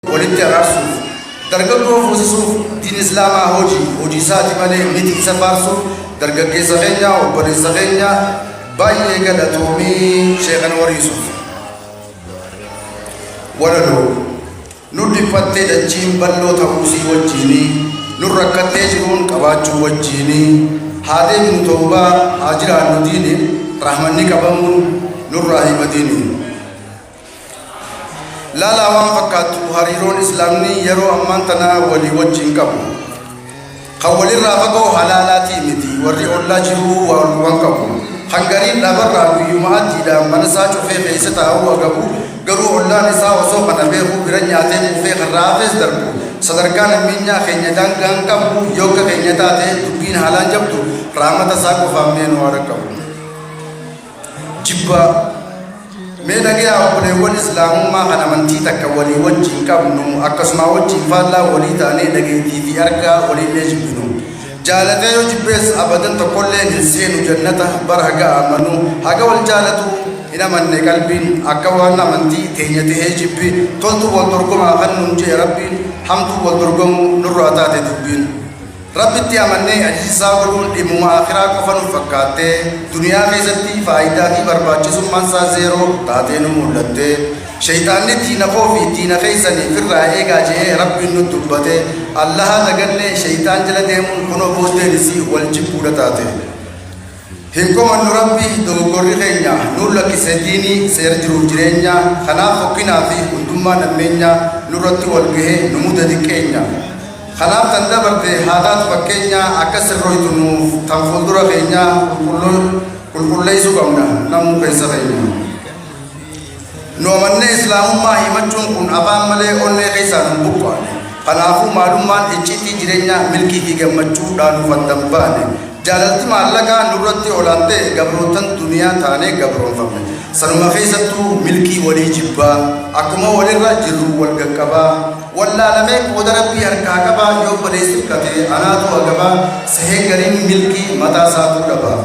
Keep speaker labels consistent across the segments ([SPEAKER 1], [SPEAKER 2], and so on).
[SPEAKER 1] walitti araarsuuf dargaggoo fuusisuuf diin islaamaa hojii hojii isaati malee miti isa faarsuuf dargaggeessa keenya obboleessa keenya baay'ee galatoomii sheekana wariisuuf walaloo nu dhiphattee dachiin bal'oo ta'uusii wajjiinii nu rakkattee jiruun qabaachuu wajjiinii haa deemnu toobaa haa jiraannu diiniif rahmanni qabamuun nurraa himatiini laalaa waan fakkaattu hariiroon Islaamni yeroo ammaan tanaa walii wajjiin qabu kan walirraa fagoo halaalaatii miti warri ollaa jiruu waan qabu kan gariin dhabarraa guyyuma addiidhaan mana isaa cufee keessa taa'uu agabu garuu ollaan isaa osoo kana beekuu bira nyaatee quufee kan raafees darbu sadarkaa nameenyaa keenya daangaan qabu yooka keenya taate dubbiin haalaan jabdu raamata isaa qofaaf mee nu haadha qabu. jibbaa. Mee dhagayaa obboleewwan Islaamummaa kan amantii takka walii wajjiin qabnu akkasumaa wajjiin faallaa walii taanee dhageettii fi argaa waliillee jibbinu. Jaalatee yoo jibbees abadan tokkollee hin seenu jannata bara haga amanu haga wal jaalatu hin amanne qalbiin akka waan amantii teenya ta'ee jibbi toltuu wal dorgomaa kan nuun jee rabbiin hamtuu wal dorgomuu nurraa taate dubbiin. Rabbitti amannee ajijisaa godhuun dhimmuma aakhiraa qofa nuuf fakkaattee, duniyaa keessatti faayidaa fi barbaachisummaan isaa zeeroo taatee nu muldhatte. Sheyxaanni diina koo fi diina keessan ifirraa eegaa je'ee Rabbiin nutti dubbate, Allaha dagannee sheyxaan jala deemuun kunoo booddeen isii wal jibbuudha taate. Hin komannu Rabbi dogoggorri keenya nuun lakkise diini seera jiruuf jireenya kanaaf fokkinaa fi hundummaa nammeenya nurratti wal gahe nu muda diqqeenya kanaaf tan dabarte haa taatu fakkeenya akka sirroytu nuuf tan fuuldura keenya qulqulleysuu qabna namuu keessa keenya. Nu amannee Islaamummaa himachuun kun afaan malee onnee keessaa nun buqqaane. Kanaafuu maalummaan icciitii jireenyaa milkii fi gammachuu dhaa nuuf addan baane. Jaalalti maallaqaa nurratti olaantee gabroottan duniyaa taanee gabroomfamne. Sanuma keessattuu milkii walii jibbaa, akkuma walirra jirru wal gaqqabaa. Wallaalamee qooda Rabbii harkaa qabaa yoo obboleessi hirkate anaatu agabaa sehee gariin milkii mataa isaatuu dhabaa.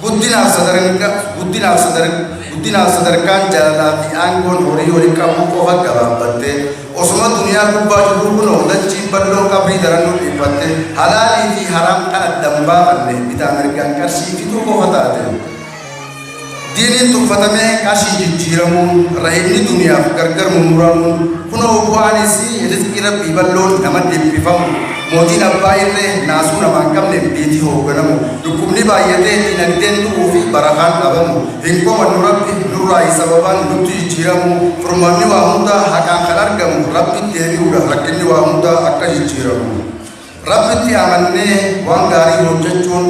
[SPEAKER 1] Guddinaaf sadarka, guddinaaf sadar, guddinaaf sadarkaan jaalalaa fi aangoon horii waliin qabuu qofa gabaabbattee, osuma duniyaa gubbaa jirruu kunoo dachiin balloon qabrii daran nu dhiiphatte, halaalii fi haraam kan addan baafanne, bitaa mirgaan qarshii fixuu qofa taate. Diiniin tuffatamee qarshii jijjiiramuun, rahimni duniyaaf gargar mummuramuun, kunoo bu'aan isii rizqii Rabbii balloon nama dhiphifamu, Mootiin abbaa irree naasuu namaa hin qabneef biitii hoogganamu, dhukkubni baayyatee diinagdeen du'uu fi barakaan dhabamu, hin komannu Rabbi nurraayi sababaan nutti jijjiiramu, furmaanni waa hundaa haqaan kan argamu Rabbitti deebi'uudha rakkinni waa hundaa akka jijjiiramu. Rabbitti amannee waan gaarii hojjachuun.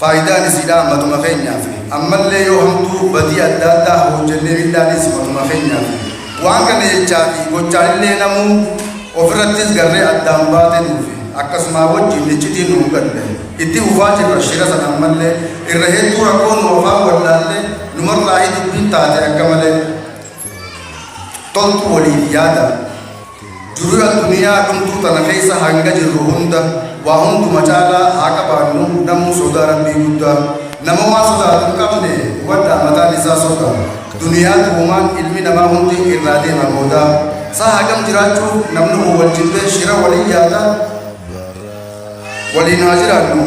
[SPEAKER 1] Faayidaan isiidhaa matuma keenyaafi. Ammallee yoo hamtuu, badii adda addaa hoojjennee miidhaaniis matuma keenyaafi. Waan kana jechaafi gochaanillee namuu ofirrattis garree addaan baate nuufi. Akkasumaa wajjiin iccitiin nu mudatte. Itti fufaa jirra shira san ammallee. Irra hedduu rakkoo nu afaan wallaallee numarraahi dubbiin taate akka malee. Toltuu waliif yaadaa. Durra duniyaa dhumtuu tana keessa hanga jirru hunda waa hunduma caalaa haa qabaannu namuu sodaa Rabbii guddaa nama waan sodaatu hin qabne hubadhaa mataan isaa soda duniyaa dhugumaan ilmi namaa hundi irraa deema booda saa hagam jiraachuu namni owwalchifte shira waliin yaada waliin haa jiraannu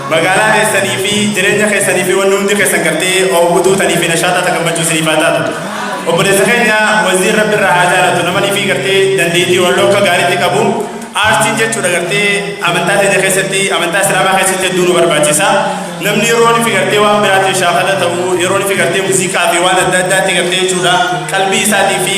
[SPEAKER 2] Magaalaa keessanii fi jireenya keessanii fi wanni hundi keessan gartee hawwatuu tanii fi nashaaxaa ta gammachuu isiniif haa taatu. Obboleessa keenya waziir rabbi irraa haa jaalatu namanii fi gartee dandeettii walloo akka gaariitti qabu aartiin jechuudha gartee amantaa teenya keessatti amantaa islaamaa keessatti hedduu nu barbaachisa. Namni yeroon fi gartee waan biraatiif shaakala ta'u yeroon fi gartee muuziqaa fi waan adda addaatti gartee jechuudha qalbii isaatii fi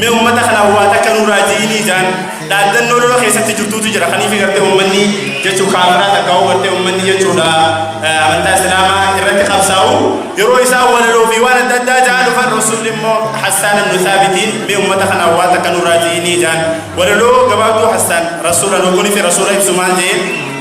[SPEAKER 2] Mee ummata kanaaf waa takka nurraa ji'inii jaan dhaaddannoo lola keessatti jirtuutu jira kaniif gartee ummanni jechuu kaafiraa takka hoo gartee ummanni jechuudha eh, amantaa islaamaa irratti qabsaa'u yeroo isaa walaloo fi waan adda addaa jaa dhufan rasuulli immoo hassaan ibnu saabitiin mee ummata kanaaf waa takka nurraa ji'inii jaan walaloo gabaabduu hassaan rasuula loogoni fi rasuula ibsu maal jeen